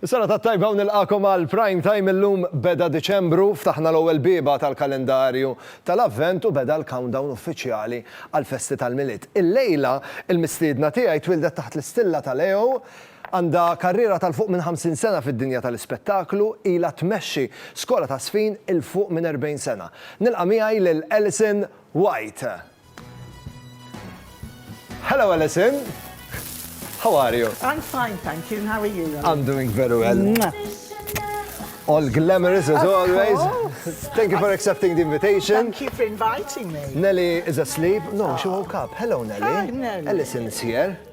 Sena ta' tajba u nilqakom għal prime time illum beda Diċembru ftaħna l-ewwel biba tal-kalendarju tal-Avvent u beda l-countdown uffiċjali għal festi tal-Milied. Il-lejla il-mistiedna tiegħi twildet taħt l-istilla ta' Leo Għandha karriera ta' 'l fuq minn 50 sena fid-dinja ta' l-ispettaklu, ilha tmexxi skola ta' żfin 'il fuq minn 40 sena. Nilqa' miegħi lil Alison White. Hello Alison! How are you? I'm fine, thank you, and how are you? I'm doing very well. All glamorous as always. Of course. Thank you for accepting the invitation. Thank you for inviting me. Nellie is asleep. No, she woke up. Hello Nellie. Hi Nellie. Alison is here.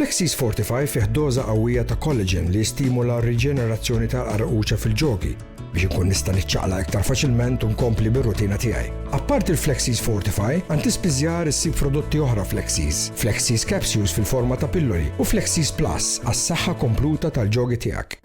Flexis Fortify fih doża qawwija ta' collagen li jistimula r-riġenerazzjoni tal-qarquċa fil-ġogi biex inkun nista' niċċaqlaq iktar faċilment u nkompli bir-rutina tiegħi. Apparti l-Flexis Fortify, għand tispiżjar issib prodotti oħra Flexis, Flexis Capsules fil-forma ta' pilloli u Flexis Plus għas-saħħa kompluta tal-ġogi tiegħek.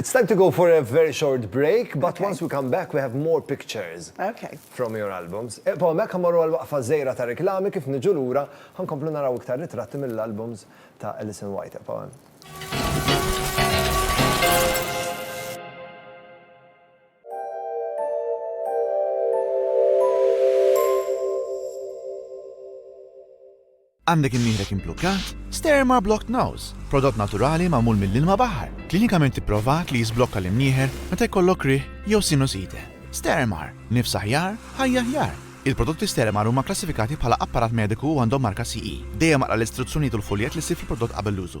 It's time to go for a very short break, but once we come back we have more pictures from your albums. Ibqgħu hemmhekk ħa mmorru għal waqfa żgħira ta' riklami kif niġu lura ħa nkomplu naraw iktar ritratti mill-albums ta' Alison White. Ibqgħu hemm. Għandek imnieħrek implukkat? Sterma Blocked Nose, prodott naturali magħmul mill-ilma baħar, klinikament ipprovat li jiżblokka l-imnieħer meta jkollok riħ jew sinusite. Steremar, nifs aħjar, ħajja aħjar! Il-prodotti Steremar huma kklassifikati bħala apparat mediku u għandhom marka CE. Dejjem aqra l-istruzzjonijiet u l-fuljett li ssib fil-prodott qabel l-użu.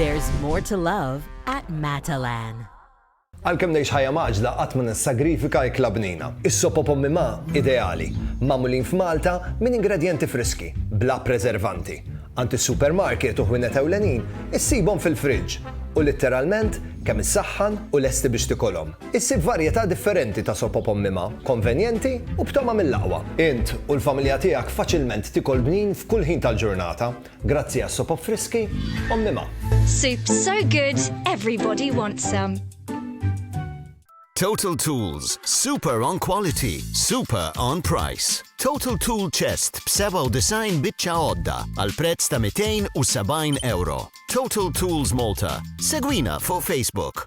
There's more to love at Matalan. Għalkemm ngħix ħajja maġla qatt ma nissagrifika ikla bnina. Is-sopo pommi ma ideali, magħmulin f'Malta minn ingredjenti friski, bla preservanti. Għand is-supermarket u ħwienet ewlenin issibhom fil-friġġ u litteralment kemm issaħħan u lesti biex tikolhom. Issib varjetà differenti ta' sopop ommima, konvenjenti u b'tama mill-aqwa. Int u l-familja tiegħek faċilment tikol bnin f'kull ħin tal-ġurnata grazzi għas-sopop friski ommima. Soup so good, everybody wants some. Total Tools, super on quality, super on price. Total Tool Chest b'97 biċċa għodda għal prezz ta' €270. Total Tools Malta, segwina fuq Facebook.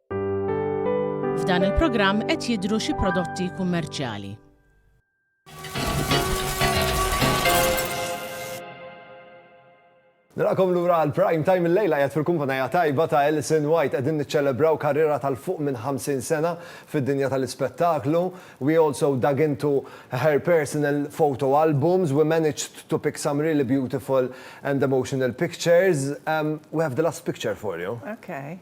F'dan il-programm qed jidhru xi prodotti kummerċjali. Narakom lura għal prime time il-lejla jgħat fil-kumpanija tajba ta' Ellison White għedin niċċelebraw karriera tal-fuq minn 50 sena fid-dinja tal-ispettaklu. We also dug into her personal photo albums. We managed to pick some really beautiful and emotional pictures. Um, we have the last picture for you. Okay.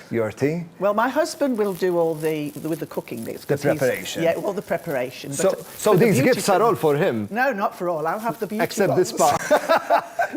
your tea. Well my husband will do all the with the cooking bits. The preparation. Yeah all the preparation. So, so these gifts are all for him? No not for all, I'll have the beauty Except the spa.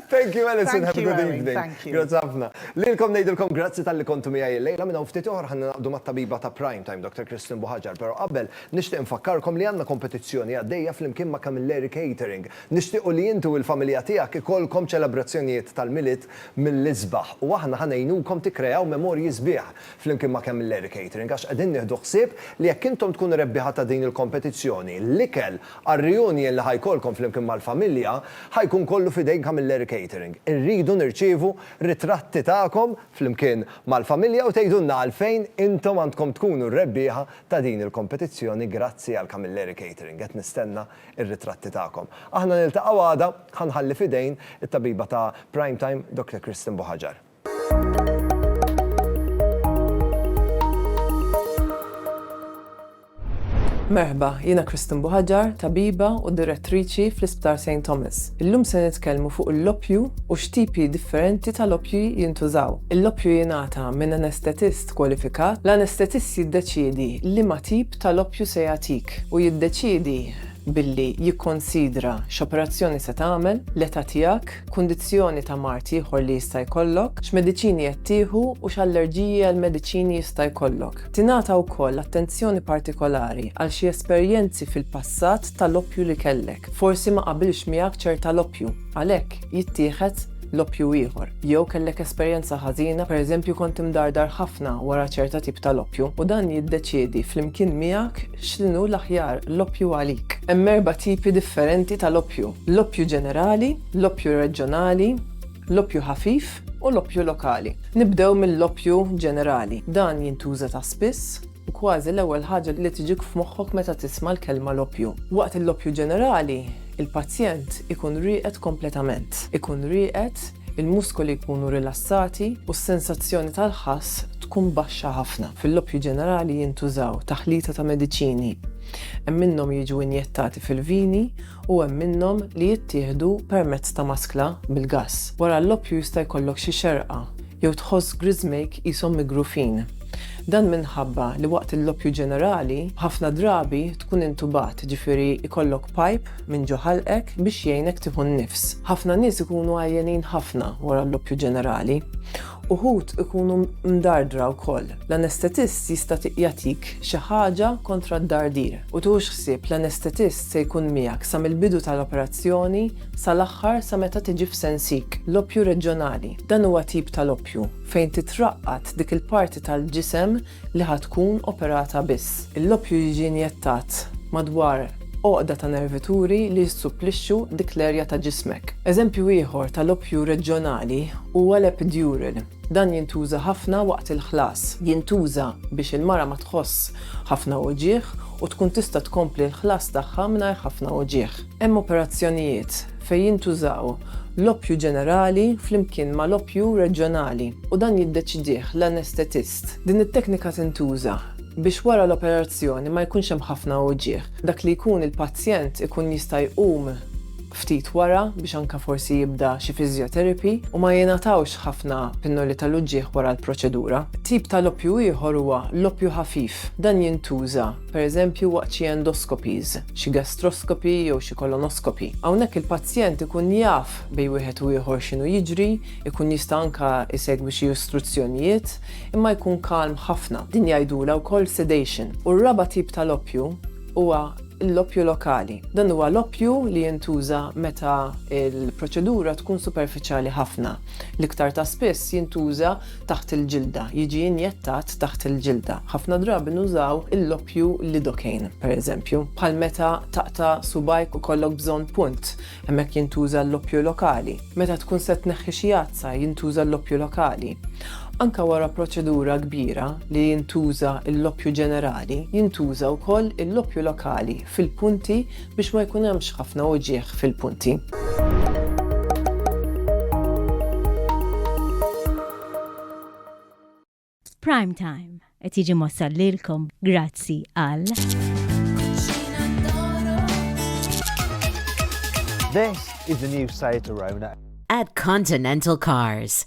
Thank you Alison, have a good evening. Thank you. Grazzi ħafna. Lilkom ngħidilkom grazzi tal-li kontu miegħi lejla minn hawn ftit oħra ħanna naqdu mat-tabiba ta' Prime Time Dr. Kristin Buħaġar, però qabel nixtieq nfakkarkom li għandna kompetizzjoni għaddejja flimkien ma' Camilleri Catering. Nixtiequ li intu il-familja tiegħek ikollkom ċelebrazzjonijiet tal-Milied mill-isbaħ u aħna ħa ngħinukom tikkreaw memorji sbieħ flimkien ma' Camel Dairy Catering għax qegħdin nieħdu ħsieb li jekk intom tkunu rebbieħa ta' din il-kompetizzjoni, l-ikel għar-reunion li ħa jkollkom flimkien mal-familja ħa jkun kollu f'idejn Camel Dairy Catering. Irridu nirċievu ritratti tagħkom flimkien mal-familja u tgħidulna għalfejn intom għandkom tkunu r-rebbieħa ta' din il-kompetizzjoni grazzi għal Camilleri Catering. Qed nistenna ir-ritratti tagħkom. Aħna niltaqgħu għada, ħa nħalli f'idejn it-tabiba ta' Prime Time, Doctor Kristen Buhaġar. Merħba, jiena Kristen Buhaġar, tabiba u direttriċi fl-Isptar St. Thomas. Illum se nitkellmu fuq l-loppju u x'tipi differenti ta' loppji jintużaw. Il-loppju jingħata minn anestetist kwalifikat. L-anestetist jiddeċiedi liema tip tal-oppju se jagħtik u jiddeċiedi billi jikkunsidra x'operazzjoni se tagħmel, l-età tiegħek, kundizzjoni ta' mard ieħor li jista' jkollok, x'mediċini qed tieħu u x'allerġiji għall-mediċini jista' jkollok. Tingħata wkoll attenzjoni partikolari għal xi esperjenzi fil-passat tal-oppju li kellek. Forsi ma qabilx miegħek ċerta l-oppju, għalhekk jittieħed l-oppju ieħor, jew kellek esperjenza ħażina, pereżempju kont imdardar ħafna wara ċerta tip ta' l-oppju, u dan jiddeċiedi flimkien miegħek x'inhu l-aħjar l-oppju għalik. Hemm erba' tipi differenti ta' l-oppju, l-oppju ġenerali, l-oppju reġjonali, l-oppju ħafif u l-oppju lokali. Nibdew mill-oppju ġenerali. Dan jintuża ta' spiss. Kważi l-ewwel ħaġa li tiġik f'moħħok meta tisma' l-kelma l-oppju. Waqt il-loppju ġenerali, il-pazjent ikun rieqed kompletament. Ikun rieqed, il-muskoli jkunu rilassati u s-sensazzjoni tal-ħass tkun baxxa ħafna. Fil-loppju ġenerali jintużaw taħlita ta' mediċini. Hemm minnhom jiġu injettati fil-vini u hemm minnhom li jittieħdu permezz ta' maskla bil-gass. Wara l-loppju jista' jkollok xi xerqa jew tħoss griżmejk qishom migrufin. Dan minħabba li waqt il-loppju ġenerali, ħafna drabi tkun intubat, jiġifieri jkollok pipe minn ġo ħalqek biex jgħinek tieħu n-nifs. Ħafna nies ikunu għajjenin ħafna wara l-loppju ġenerali. Uħud ikunu mdardra wkoll. L-anestetist jista' jagħtik xi ħaġa kontra d-dardir. U tieħux ħsieb l-anestetist se jkun miegħek sa mill-bidu tal-operazzjoni Sal-aħħar, sa meta tiġi f'sensik, l-oppju reġjonali. Dan huwa tip tal-oppju fejn titraqqad dik il-parti tal-ġisem li ħa tkun operata biss. L-oppju jiġi injettat madwar għoqda ta' nervituri li jissupplixxu dik l-erja ta' ġismek. Eżempju ieħor tal-oppju reġjonali huwa l-epidural. Dan jintuża ħafna waqt il-ħlas. Jintuża biex il-mara ma tħoss ħafna uġigħ u tkun tista' tkompli l-ħlas tagħha mingħajr ħafna uġigħ. Hemm operazzjonijiet fejn jintużaw l-oppju ġenerali flimkien ma' l-oppju reġjonali u dan jiddeċidih l-anestetist. Din it-teknika tintuża biex wara l-operazzjoni ma jkunx hemm ħafna uwġiegħ. Dak li jkun il-pazjent ikun jista' jqum ftit wara biex anke forsi jibda xi physiotherapy u ma jingħatawx ħafna pinnoli tal-uġiegħ wara l-proċedura. Tip tal-oppju ieħor huwa l-oppju ħafif. Dan jintuża pereżempju waqt xi endoscopies, xi gastroscopy jew xi colonoscopy. Hawnhekk il-pazjent ikun jaf bejn wieħed u ieħor x'inhu jiġri, ikun jista' anke jsegwi xi istruzzjonijiet, imma jkun kalm ħafna. Din jgħidulha wkoll sedation. U r-raba' tip ta' loppju huwa l-loppju lokali. Dan huwa loppju li jintuża meta l-proċedura tkun superfiċjali ħafna. L-iktar ta' spiss jintuża taħt il-ġilda, jiġi injettat taħt il-ġilda. Ħafna drabi nużaw il-loppju lidocaine, pereżempju, bħal meta taqta' subajk u kollok bżonn punt, hemmhekk jintuża l-loppju lokali. Meta tkun se tneħħi xi għadsa jintuża l-loppju lokali. Anke wara proċedura kbira li jintuża l-loppju ġenerali, jintuża wkoll il-loppju lokali fil-punti biex ma jkun hemmx ħafna uġigħ fil-punti. Prime Time qed jiġi mossal lilkom grazzi għal. This is the new Saetorona. At Continental Cars.